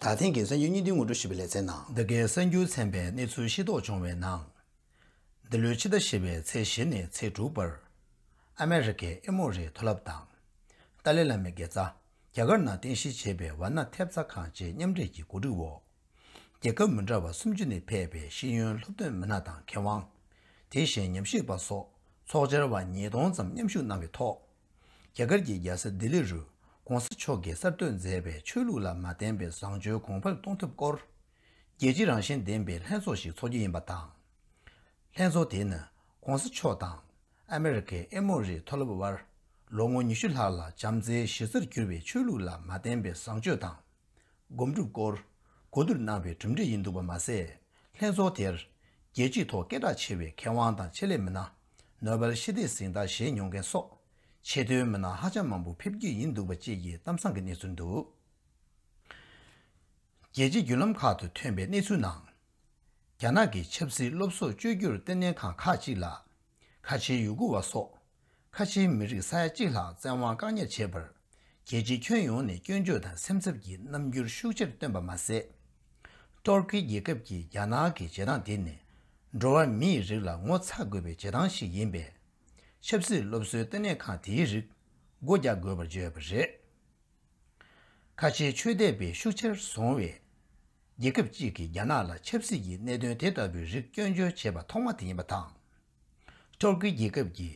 ད་ཐེངས་ཀྱི་གསར་འགྱུར་སྙིང་དོན་ངོ་སྤྲོད་ཞུས་པའི་ལེ་ཚན་ནང། འདི་གའི་གསར་འགྱུར་ཚན་པའི་གནས་ཚུལ་ཤེས་རྟོགས་བྱུང་བའི་ནང། འདི་ལོའི་ཕྱི་ཟླ་བཞི་བའི་ཚེས་བཞི་ནས་ཚེས་དྲུག་བར། ཨ་མེ་རི་ཁའི་ཨེ་མོ་རི་མཐོ་རླབས་དང། ཏཱ་ལའི་བླ་མའི་དགེ་རྩ། རྒྱ་གར་ནང་རྟེན་གཞི་བྱས་པའི་ཝར་ན་ཐེབས་རྩ་ཁང་བཅས་མཉམ་འབྲེལ་གྱི་གོ་སྒྲིག་འོག། རྒྱལ་ཁབ་མི་འདྲ་བ་སུམ་ཅུ་ནས་ཕེབས་པའི་ཤེས་ཡོན་སློབ་སྟོན་མི་སྣ་དང་མཁས་དབང། དེ་བཞིན་ཉམས་ཞིབ་པ་སོགས་ཚོགས་བཅར་བ་ཉིས་སྟོང་ཙམ་མཉམ་ཞུགས་གནང་བའི་ཐོག། རྒྱ་གར་གྱི་རྒྱལ་ས་ལྡི་ལི་རུ ྋགོང་ས་མཆོག་གིས་གསར་གཏོད་མཛད་པའི་ཆོས་ལུགས་ལ་མ་བརྟེན་པའི་བཟང་སྤྱོད་གོང་འཕེལ་གཏོང་ཐབས་སྐོར། རྒྱལ་སྤྱི་རང་བཞིན་ལྡན་པའི་ལྷན་ཚོགས་ཤིག་ཚོགས་རྒྱུ་ཡིན་པ་དང། ལྷན་ཚོགས་དེ་ནི ྋགོང་ས་མཆོག་དང་ཨ་མེ་རི་ཁའི་ཨེ་མོ་རི་མཐོ་སློབ་དབར་ལོ་ངོ་ཉི་ཤུ་ལྷག་ལ་བྱམས་བརྩེའི་གཞི་རྩར་གྱུར་བའི་ཆོས་ལུགས་ལ་མ་བརྟེན་པའི་བཟང་སྤྱོད་དང། སྒོམ་སྒྲུབ་སྐོར་གོ་བསྡུར་གནང་བའི་གྲུབ་འབྲས་ཡིན་འདུག་པ་མ་ཟད། ལྷན་ཚོགས་དེར། རྒྱལ་སྤྱིའི་ཐོག་སྐད་གྲགས་ཆེ་བའི་མཁས་དབང་དང་ཆེད་ལས་མི་སྣ། ནོ་བེལ་ཞི་བདེའི་གཟེངས་རྟགས་བཞེས་མྱོང་མཁན་སོགས་ཆེད་དོན་མི་སྣ་ཧ་ཅང་མང་པོ་ཕེབས་རྒྱུ་ཡིན་འདུག་པ་བཅས་ཀྱི་གཏམ་བཟང་གི་གནས་ཚུལ་འདུག་རྒྱལ་སྤྱིའི་བརྒྱུད་ལམ་ཁག་ཏུ་ཐོན་པའི་གནས་ཚུལ་ནང། རྒྱ་ནག་གི་ཆབ་སྲིད་སློབ་གསོ་བཅོས་བསྒྱུར་ལྟེ་གནས་ཁང་ཁག་ཅིག་ལ། ཁ་ཆེའི་ཡུ་གུར་བ་སོགས་ཁ་ཆེའི་མི་རིགས་ས་ཡ་གཅིག་ལྷག་བཙན་དབང་བཀག་ཉར་བྱས་པར། རྒྱལ་སྤྱིའི་ཁྱོན་ཡོངས་ནས་སྐྱོན་བརྗོད་དང་སེམས་འཚབ་ཀྱི་རྣམ་འགྱུར་ཤུགས་ཆེར་བཏོན་པ་མ་ཟད། ཏུར་ཀི་རྒྱལ་ཁབ་ཀྱིས་རྒྱ་ནག་གི་བྱེད་སྟངས་དེ་ནི། འགྲོ་བ་མིའི་རིགས་ལ་ངོ་ཚ་དགོས་པའི་བྱེད་སྟངས་ཤིག་ཡིན་པས། ཆབ་སྲིད་སློབ་གསོའི་ལྟེ་གནས་ཁང་དེའི་རིགས་སྒོ་རྒྱག་དགོས་པར་བརྗོད་པ་རེད། ཁ་ཆེའི་ཆོས་དད་པའི་ཤུགས་ཆེར་བཟུང་བའི་རྒྱལ་ཁབ་ཅིག་གིས་རྒྱ་ནག་ལ་ཆབ་སྲིད་ཀྱི་གནད་དོན་དེ་ལྟ་བུའི་རིགས་སྐྱོན་བརྗོད་བྱས་པ་ཐོག་མ་དེ་ཡིན་པ་དང། ཏུར་ཀི་རྒྱལ་ཁབ་ཀྱི་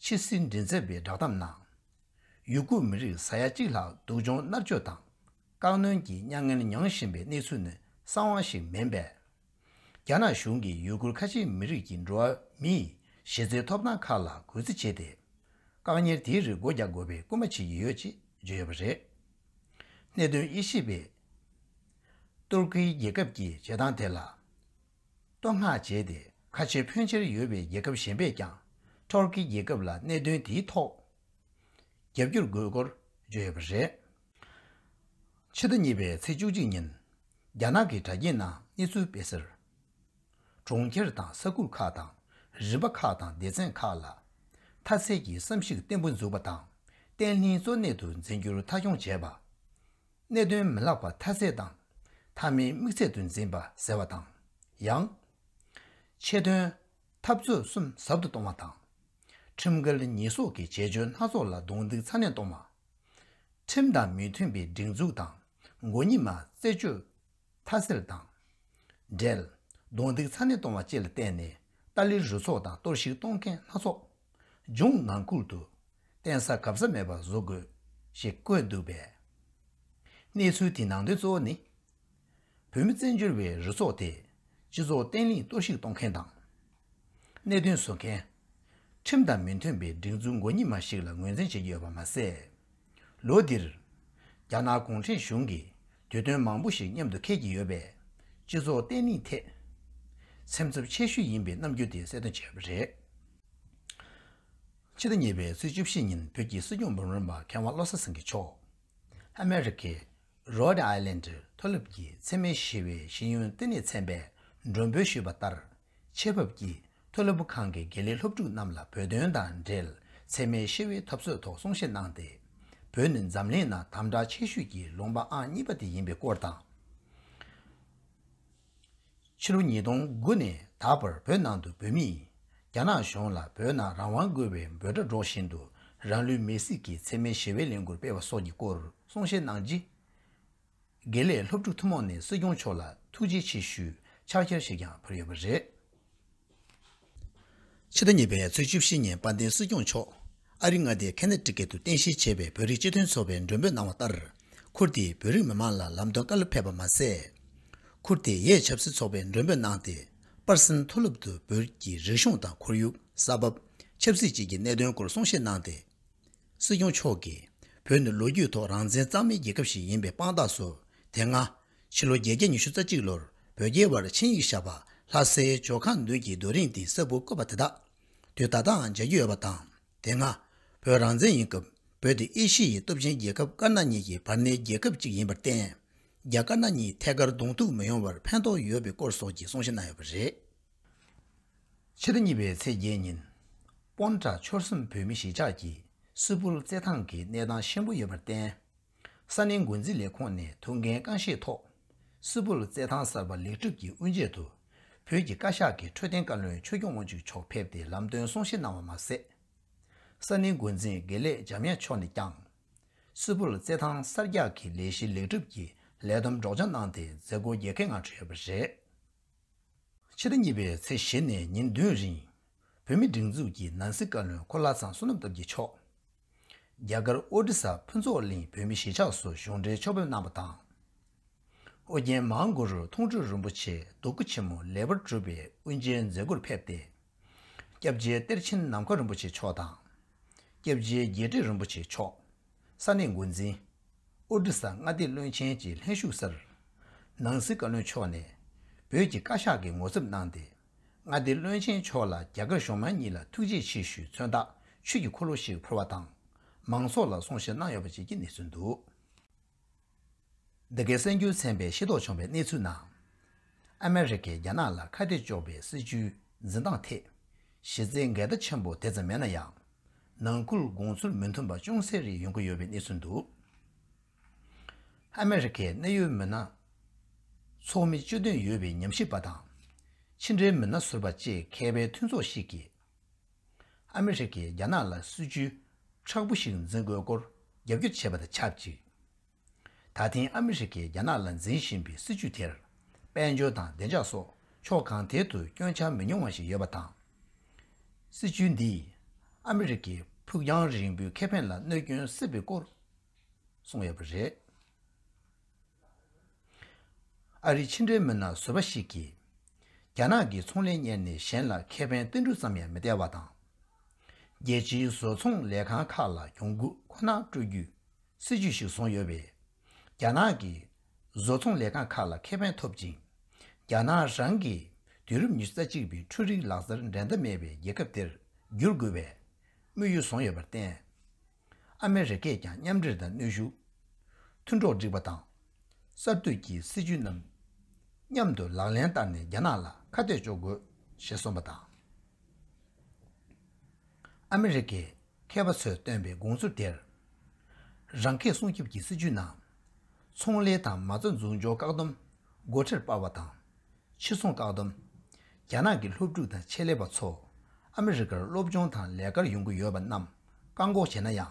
ཕྱི་སྲིད་མགྲིན་ཚབ་པའི་བསྒྲགས་གཏམ་ནང། ཡུ་གུར་མི་རིགས་ས་ཡ་གཅིག་ལྷག་སྡུག་སྦྱོང་མནར་གཅོད་དང་བཀག་གནོན་གྱི་མྱ་ངན་མྱོང་བཞིན་པའི་གནས་ཚུལ་ནི་གསང་བ་ཞིག་མིན་པས། རྒྱ་ནག་གཞུང་གིས་ཡུ་གུར་ཁ་ཆེའི་མི་རིགས་ཀྱི་འགྲོ་བ་མིའི་གཞི་རྩའི་ཐོབ་ཐང་ཁག་ལ་གུས་བརྩི་བྱས་ཏེ། བཀག་ཉར་དེའི་རིགས་སྒོ་རྒྱག་དགོས་པའི་སྐུལ་མ་བྱེད་ཀྱི་ཡོད་ཅེས་བརྗོད་ཡོད་པ་རེད། གནད་དོན་དབྱེ་ཞིབ་པས། ཏུར་ཀི་རྒྱལ་ཁབ་ཀྱིས་བྱེད་སྟངས་དེ་ལ། བསྟོད་བསྔགས་བྱས་ཏེ་ཁ་ཆེ་ཕོན་ཆེར་ཡོད་པའི་རྒྱལ་ཁབ་གཞན་པས་ཀྱང་ཏོར་ཀི་རྒྱལ་ཁབ་ལ་གནད་དོན་དེའི་ཐོག་རྒྱབ་སྐྱོར་དགོས་སྐོར་བརྗོད་ཡོད་པ་རེད། ཕྱི་ཟླ་གཉིས་པའི་ཚེས་བཅུ་གཅིག་ཉིན་རྒྱ་ནག་གི་དྲ་རྒྱའི་ནང་གནས་ཚུལ་སྤེལ་གསལ། གྲོང་ཁྱེར་དང་ས་ཁུལ་ཁག་དང་རིམ་པ་ཁག་དང་སྡེ་ཚན་ཁག་ལ་མཐའ་ཚད་ཀྱི་བསམ་གཞིག་བརྟན་པོ་འཛུགས་པ་དང་བརྟན་ལྷིང་གཙོ་གནད་དུ་འཛིན་རྒྱུར་མཐའ་འཁྱོངས་བྱས་པ། གནད་དོན་མི་བརླག་པ་མཐའ་ཚད་དང། མཐའ་མའི་དམིགས་ཚད་དུ་འཛིན་པ་ཟེར་བ་དང། ཡང། ཆེད་དོན། འཐབ་རྩོད་གསུམ་ཟབ་ཏུ་གཏོང་བ་དང། ཁྲིམས་འགལ་ཉེས་གསོག་གི་བྱེད་སྤྱོད་སྣ་ཚོགས་ལ་རྡུང་རྡེག་ཚ་ནན་གཏོང་བ། ཁྲིམས་དང་མི་མཐུན་པའི་སྒྲིག་འཛུགས་དང་མགོ་གཉིས་མ་རྩད་གཅོད། དྷ་སེལ་དང། འབྲེལ། རྡུང་རྡེག་ཚ་ནན་གཏོང་བ་བཅས་ལ་བརྟེན་ནས་ཏཱ་ལའི་རུ་ཚོགས་དང་གཏོར་བཤིག་གཏོང་མཁན་སྣ་ཚོགས། ལྗོངས་ནང་ཁུལ་དུ། བརྟེན་ས་གབ་ས་མེད་པར་བཟོ་དགོས། ཞེས་བཀོད་འདུག་པས། གནས་ཚུལ་དེའི་ནང་དོན་གཙོ་བོ་ནི། བོད་མི་བཙན་བྱོལ་བའི་རུ་ཚོགས་དེས་སྤྱི་ཚོགས་བརྟན་བརླིང་གཏོར་བཤིག་གཏོང་མཁན་དང། གནད་དོན་བཟོ་མཁན། ཁྲིམས་དང་མི་མཐུན་པའི་སྒྲིག་འཛུགས་མགོ་གཉིས་མ་ཞིག་ལ་ངོས་འཛིན་བྱེད་ཀྱི་ཡོད་པ་མ་ཟད། ལོ་འདིར། རྒྱ་ནག་གུང་ཁྲན་གཞུང་གིས་དུས་སྟོན་མང་པོ་ཞིག་མཉམ་དུ་འཁེལ་གྱི་ཡོད་པས། སྤྱི་ཚོགས་བརྟན་ལྷིང་ཐད། སེམས་འཚབ་ཆེ་ཤོས་ཡིན་པའི་རྣམ་འགྱུར་དེ་གསལ་སྟོན་བྱས་པ་རེད། ཕྱི་ཟླ་གཉིས་པའི་ཚེས་བཅུ་བཞི་ཉིན་བོད་ཀྱི་སྲིད་སྐྱོང་འབུམ་རམས་པ་མཁས་དབང་བློ་གསལ་སེང་གེ་མཆོག། ཨ་མེ་རི་ཁའི། Rhode Island། མཐོ་སློབ་ཀྱི་འཚེ་མེད་ཞི་བའི་ཤེས་ཡོན་བསྟི་གནས་ཚན་པས་མགྲོན་འབོད་ཞུས་པ་ལྟར། ཆེད་ཕབ་ཀྱིས་མཐོ་སློབ་བུ་ཁང་གི་དགེ་ལས་སློབ་ཕྲུག་རྣམས་ལ་བོད་དོན་དང་འབྲེལ་ཚད་མའི་ཤེས་བའི་ཐབས་སྲོལ་ཐོག་གསུང་བཤད་གནང་སྟེ། བོད་ནི་འཛམ་གླིང་ནང་དམ་བསྒྲགས་ཆེ་ཤོས་ཀྱི་ལུང་པ་ཨང་གཉིས་པ་དེ་ཡིན་པའི་སྐོར་དང། ཕྱི་ལོ་ཉིས་སྟོང་དགུ་ནས་ད་བར་བོད་ནང་དུ་བོད་མིས་རྒྱ་ནག་གཞུང་ལ་བོད་ནང་རང་དབང་དགོས་པའི་འབོད་སྒྲ་སྒྲོག་བཞིན་དུ་རང་ལུས་མེར་བསྲེགས་ཀྱིས་ཚད་མའི་ཞི་བའི་ལས་འགུར་སྤེལ་བ་སོགས་ཀྱི་སྐོར་གསུང་བཤད་གནང་རྗེས། དགེ་ལེགས་སློབ་ཕྲུག་ཐུན་མོང་ནས་སྲིད་སྐྱོང་མཆོག་ལ་ཐུགས་རྗེ་ཆེ་ཞུས་ཕྱག་བསྐྱལ་ཞིག་ཀྱང་ཕུལ་ཡོད་པ་རེད། ཕྱི་ཟླ་གཉིས་པའི་ཚེས་བཅུ་བཞི་ཉིན་དཔལ་ལྡན་སྲིད་སྐྱོང་མཆོག་ཨ་རི་མངའ་སྡེའི་ཁེ་ནེ་ཀྲི་ཀེ་ཏུ་རྟེན་གཞི་བྱས་པའི་བོད་རིགས་སྤྱི་མཐུན་ཚོགས་པའི་མགྲོན་འབོད་གནང་བ་ལྟར། ཁུར་དེས་བོད་རིགས་མི་མང་ལ་ལམ་སྟོན་བཀའ་སློབ་ཕེབས་པ་མ་ཟད། ཁུར་དེ་ཡས་ཆབ་སྲིད་ཚོགས་པའི་མགྲོན་འབོད་གནང་སྟེ་པར་སིན་མཐོ་སློབ་ཏུ་བོད་ཀྱི་རིག་གཞུང་དང་ཁོར་ཡུག་ས་བབ། ཆབ་སྲིད་བཅས་ཀྱི་གནད་དོན་སྐོར་གསུང་བཤད་གནང་སྟེ། སྲིད་སྐྱོང་མཆོག་གིས་བོད་ནི་ལོ་རྒྱུས་ཐོག་རང་བཙན་གཙང་མའི་རྒྱལ་ཁབ་ཞིག་ཡིན་པའི་དཔང་རྟགས་སུ་དེ་སྔ། ཕྱི་ལོ་བརྒྱད་བརྒྱ་ཉི་ཤུ་རྩ་གཅིག་ལོར་བོད་རྒྱའི་བར་ཆིངས་ཡིག་བཞག་པ་ལྷ་སའི་ཇོ་ཁང་མདུན་གྱི་རྡོ་རིང་སྟེང་གསར་བུར་བཀོད་པ་དེ་དག་དུས་ད་ལྟའང་མཇལ་རྒྱུ་ཡོད་པ་དང་དེ་སྔ། བོད་རང་བཙན་ཡིན་སྐབས་བོད་དེ་ཨེ་ཤི་ཡའི་སྟོབས་ཆེན་རྒྱལ་ཁབ་དཀར་ནག་གཉིས་ཀྱི་བར་སྣེའི་རྒྱལ་ཁབ་ཅིག་ཡིན་པར་བརྟེན། རྒྱ་དཀར་ནག་གཉིས་ཐད་ཀར་གདོང་ཐུག་མི་ཡོང་བར་ཕན་ཐོགས་ཡོད་པའི་སྐོར་སོགས་ཀྱི་གསུང་བཤད་གནང་ཡོད་པ་རེད། ཕྱི་ཟླ་གཉིས་པའི་ཚེས་བརྒྱད་ཉིན། དབོན་བྲག་ཆོལ་གསུམ་བོད་མི་གཞིས་ཆགས་ཀྱི་སིལ་བུར་རྩེད་ཐང་གི་གནས་སྟངས་ཞན་པོ་ཡོད་པར་བརྟེན། ས་གནས་མགོ་འཛིན་ལས་ཁུངས་ནས་ཐུགས་འགན་རྐང་བཞེས་ཐོག་སིལ་བུར་རྩེད་ཐང་གསར་པ་ལེགས་གྲུབ་ཀྱི་དབུ་འབྱེད་དུ་བོད་ཀྱི་བཀའ་ཤག་གི་འཕྲོད་བསྟེན་བཀའ་བློན་ཆོས་སྐྱོང་དབང་ཕྱུག་མཆོག་ཕེབས་ཏེ་ལམ་སྟོན་གསུང་བཤད་གནང་བ་མ་ཟད། ས་གནས་མགོ་འཛིན་དགེ་ལེགས་འཇམ་དབྱངས་མཆོག་ནས་ཀྱང་སིལ་བུར་རྩེད་ཐང་གསར་རྒྱག་གི་ལས་གཞི་ལེགས་གྲུབ་ཀྱི་ལས་བསྡོམས་སྒྲོག་སྦྱང་གནང་སྟེ་མཛད་སྒོ་རྒྱལ་ཁའི་ངང་གྲོལ་ཡོད་པ་རེད། ཕྱི་ཟླ་གཉིས་པའི་ཚེས་བཞི་ནས་ཉིན་བདུན་རིང། བོད་མི་སྒྲིག་འཛུགས་ཀྱི་ནང་སྲིད་བཀའ་བློན་ཁོ་ལྷ་ཚང་བསོད་ནམས་སྟབས་ཀྱིས་མཆོག་རྒྱ་གར་ཨོ་རི་ས་ཕུན་ཚོགས་གླིང་བོད་མི་གཞིས་ཆགས་སུ་གཞུང་འབྲེལ་ཕྱོགས་ཕེབས་གནང་བ་དང། ཨོ་རྒྱན་མཧཱ་གུ་རུ་མཐོང་གྲོལ་རིན་པོ་ཆེ་རྡོ་སྐུ་ཆེན་མོ་ལེགས་པར་གྲུབ་པའི་དབུ་འབྱེད་མཛད་སྒོར་ཕེབས་ཏེ། སྐྱབས་རྗེ་གཏེར་ཆེན་ནམ་མཁའ་རིན་པོ་ཆེ་མཆོག་དང། སྐྱབས་རྗེ་རྒྱས་བཀྲིས་རིན་པོ་ཆེ་མཆོག། ས་གནས་འགོ་འཛིན། ཨོ་རི་ས་མངའ་སྡེ་བློན་ཆེན་གྱི་ལྷན་བཞུགས་སར། ནང་སྲིད་བཀའ་བློན་མཆོག་ནས་བོད་ཀྱི་བཀའ་ཤག་གི་ངོ་ཚབ་གནང་སྟེ། མངའ་སྡེ་བློན་ཆེན་མཆོག་ལ་རྒྱ་གར་གཞུང་མང་གཉིས་ལ་ཐུགས་རྗེ་ཆེ་ཞུའི་མཚོན་དག་ཆོས་ཀྱི་འཁོར་ལོ་ཞིག་ཕུལ་བ་དང། མང་ཚོགས་ལ་གསུང་བཤད་གནང་ཡོད་པ་བཅས་ཀྱི་གནས་ཚུལ་འདུག། འདི་གའི་གསར་འགྱུར་ཚན་པས་ཤེས་རྟོགས་བྱུང་བའི་གནས་ཚུལ་ནང། ཨ་མེ་རི་ཁས་རྒྱ་ནག་ལ་ཁ་གཏད་གཅོག་པའི་སྲིད་བྱུས་འཛིན་སྟངས་ཐད། གཞི་རྩའི་འགལ་ཟླ་ཆེན་པོ་དེ་ཙམ་མེད་ན་ཡང། ནང་ཁུལ་དགོངས་ཚུལ་མི་མཐུན་པ་ཅུང་ཟད་རེ་ཡོང་གི་ཡོད་པའི་གནས་ཚུལ་འདུག་ཨ་མེ་རི་ཁའི་གནད་ཡོད་མི་སྣ། ཚོགས་མི་སྤྱི་དོན་ཡོད་པའི་ཉམས་ཞིབ་པ་དང། ཕྱི་འབྲེལ་མི་སྣ་ཟུར་པ་བཅས་མཁས་པའི་མཐུན་ཚོགས་ཤིག་གིས། ཨ་མི་རི་ཀས་རྒྱ་ནག་ལ་སྲིད་བྱུས་ཁྲག་བུ་ཞིག་འཛིན་དགོས་སྐོར་རྒྱབ་སྐྱོར་བྱས་པ་དང་ཆབས་ཅིག་ད་ཐེངས་ཨ་མི་རི་ཀས་རྒྱ་ནག་ལ་འཛིན་བཞིན་པའི་སྲིད་བྱུས་དེར་དཔལ་འབྱོར་དང་བདེ་འཇགས་སོགས་ཕྱོགས་གང་ཐད་དུ་སྐྱོན་ཆ་མི་ཉུང་བ་ཞིག་ཡོད་པ་དང། སྲིད་བྱུས་འདིས་ཨ་མི་རི་ཀའི་ཕུགས་རྒྱང་རིང་པོའི་ཁེ་ཕན་ལ་གནོད་སྐྱོན་སྲིད་པའི་སྐོར་གསུངས་ཡོད་པ་རེད། ཨ་རིའི་ཕྱི་འབྲེལ་མི་སྣ་བཟོ་པ་ཞིག་གིས། རྒྱ་ནག་གི་ཚོང་ལས་གཉེར་ནས་གཞན་ལ་ཁེ་ཕན་བརྟན་སྤྲུག་ཙམ་ཡང་མི་སྟེར་བ་དང། རྒྱལ་སྤྱིའི་བཟོ་ཚོང་ལས་ཁང་ཁག་ལ་གྱོང་གུད་ཁོ་ན་སྤྲོད་རྒྱུའི་སྲིད་ཇུས་ཤིག་བཟུང་ཡོད་པས། རྒྱ་ནག་གི་བཟོ་ཚོང་ལས་ཁང་ཁག་ལ་ཁེ་ཕན་ཐོབ་ཅིང། རྒྱ་ནག་རང་གིས་དུས་རབས་ཉི་ཤུ་རྩ་གཅིག་པའི་འཕྲུལ་རིག་ལག་རྩལ་འགྲན་ཟླ་མེད་པའི་རྒྱལ་ཁབ་དེར་བསྒྱུར་དགོས་པའི་དམིགས་ཡུལ་བཟུང་ཡོད་པར་བརྟེན། ཨ་མེ་རི་ཁས་ཀྱང་མཉམ་འབྲེལ་དང་གནོད་ཤུགས་མཐུན་གྲོགས་སྒྲིག་པ་དང། གསར་གཏོད་ཀྱི་སྲིད་ཇུས་རྣམས་མཉམ་དུ་ལག་ལེན་བསྟར་ནས་རྒྱ་ནག་ལ་ཁ་གཏད་གཅོག་དགོས་ཞེས་གསུངས་པ་དང། ཨ་མེ་རི་ཁའི་མཁས་པ་ཚོས་བཏོན་པའི་དགོངས་ཚུལ་དེར། རང་ཁེ་སྲུང་སྐྱོབ་ཀྱི་སྲིད་ཇུས་ནང། ཚོང་ལས་དང་མ་རྩ་འཛུགས་འཇོག་བཀག་སྡོམ་སྒོ་ཁྲལ་སྤར་བ་དང། ཕྱིར་འཚོང་བཀག་སྡོམ། རྒྱ་ནག་གི་སློབ་ཕྲུག་དང་ཆེད་ལས་པ་ཚོ་ཨ་མི་རི་ཀར་སློབ་སྦྱོང་དང་ལས་ཀར་ཡོང་གི་ཡོད་པ་རྣམས་བཀག་འགོག་བྱས་ན་ཡང།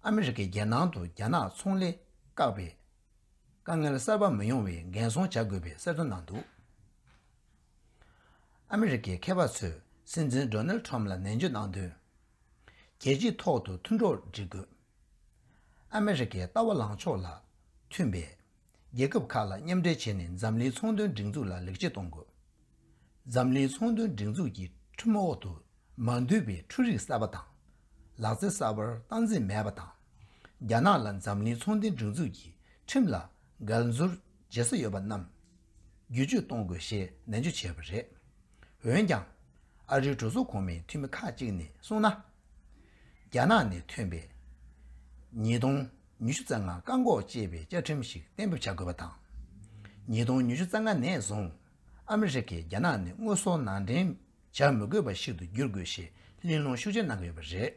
ཨ་མི་རི་ཀས་རྒྱལ་ནང་དུ་རྒྱ་ནག་ཚོང་ལས་བཀག་པའི་དཀའ་ངལ་གསར་པ་མི་ཡོང་བའི་འགན་སྲུང་བྱ་དགོས་པའི་གསལ་བསྒྲགས་གནང་འདུག་ཨ་མི་རི་ཀའི་མཁས་པ་ཚོས་སྲིད་འཛིན་སྒྲོ་ནལ་ཁྲོམ་ལ་ནན་བརྗོད་གནང་དོན། རྒྱལ་སྤྱིའི་ཐོག་ཏུ་མཐུན་གྲོགས་བསྒྲིག་དགོས། ཨ་མི་རི་ཀའི་ལྟ་བ་ལངས་ཕྱོགས་ལ་མཐུན་པའི། རྒྱལ་ཁབ་ཁག་ལ་མཉམ་འབྲེལ་བྱས་ནས་འཛམ་གླིང་ཚོང་དོན་སྒྲིག་འཛུགས་ལ་ལེགས་སྐྱེས་གཏོང་དགོས། འཛམ་གླིང་ཚོང་དོན་སྒྲིག་འཛུགས་ཀྱི་ཁྲིམས་འོག་ཏུ་མ་འདུས་པའི་འཕྲུལ་རིག་གསར་པ་དང། ལག་རྩལ་གསར་པར་སྟངས་འཛིན་མེད་པ་དང། རྒྱ་ནག་ལ་འཛམ་གླིང་ཚོང་དོན་སྒྲིག་འཛུགས་ཀྱི་ཁྲིམས་ལ་འགལ་འཛོལ་བྱེད་ས་ཡོད་པ་རྣམས་བསྒྱུར་བཅོས་གཏོང་དགོས་ཞེས་ནན་བརྗོད་བྱས་པ་རེད། འོན་ཀྱང། ཨ་རིའི་གྲོས་ཚོགས་གོང་མའི་འཐུས་མི་ཁག་ཅིག་ནས་གསུངས་ན། རྒྱ་ནག་ནས་ཐོན་པའིཉིས་སྟོང་ཉི་ཤུ་རྩ་ལྔ་བཀག་འགོག་ཅེས་པའི་བཅའ་ཁྲིམས་ཤིག་གཏན་འབེབས་བྱ་དགོས་པ་དང། ཉིས་སྟོང་ཉི་ཤུ་རྩ་ལྔ་ནས་བཟུང་ཨ་མི་རི་ཀས་རྒྱ་ནག་ནི་དངོས་ཟོག་ནང་འདྲེན་བྱ་མི་དགོས་པ་ཞིག་ཏུ་བསྒྱུར་དགོས་ཞེས་གླེང་སློང་ཤུགས་ཆེ་གནང་གི་ཡོད་པ་རེད།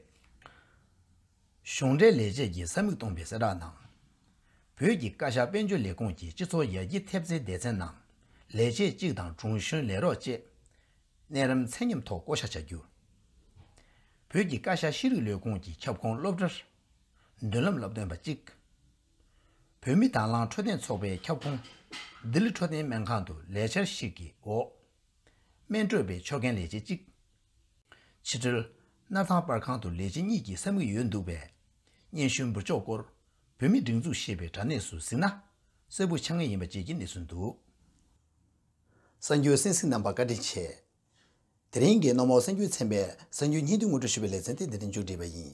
གཞུང་འབྲེལ་ལས་བྱེད་ཀྱིས་ས་མིག་སྟོང་པའི་གསལ་བསྒྲགས་ནང། བོད་ཀྱི་བཀའ་ཤག་དཔལ་འབྱོར་ལས་ཁུངས་ཀྱི་སྤྱི་ཚོགས་ཡར་རྒྱས་ཐེབས་རྩའི་སྡེ་ཚན་ནང་ལས་བྱེད་གཅིག་དང་དྲུང་གཞོན་ལས་རོགས་བཅས་གནས་རིམ་ཚད་མཉམ་ཐོག་བསྐོ་བཞག་བྱ་རྒྱུ། བོད་ཀྱི་བཀའ་ཤག་ཤེས་རིག་ལས་ཁུངས་ཀྱི་ཁྱབ་ཁོངས་སློབ་གྲྭར་མདུན་ལམ་ལབ་སྟོན་པ་གཅིག། བོད་མི་དྭང་བླངས་འཕྲོད་བསྟེན་ཚོགས་པའི་ཁྱབ་ཁོངས། ལྡི་ལི་འཕྲོད་བསྟེན་སྨན་ཁང་དུ་ལས་འཆར་ཞིག་གི་འོག། སྨན་སྤྲོད་པའི་ཕྱོགས་འགན་ལས་བྱེད་གཅིག། ཕྱི་དྲིལ། སྣར་ཐང་པར་ཁང་དུ་ལས་བྱེད་གཉིས་ཀྱི་ས་མིག་ཡོད་འདུག་པས། སྙན་ཞུའི་འབུར་ཕྱོགས་སྐོར་བོད་མི་སྒྲིག་འཛུགས་ཞེས་པའི་དྲ་གནས་སུ་གཟིགས་ན། གསལ་པོ་ཆགས་ངེས་ཡིན་པ་བཅས་ཀྱི་གནས་ཚུལ་འདུག། གསར་འགྱུར་སེམས་གཟིགས་རྣམ་པ་བཀའ་དྲིན་ཆེ། དེ་རིང་གི་གནམ་འོག་གསར་འགྱུར་ཚན་པས་གསར་འགྱུར་སྙན་ཐོའི་ངོ་སྤྲོད་ཞུ་བའི་ལེ་ཚན་དེ་འདི་ལྟར་མཇུག་སྒྲིལ་བ་ཡིན།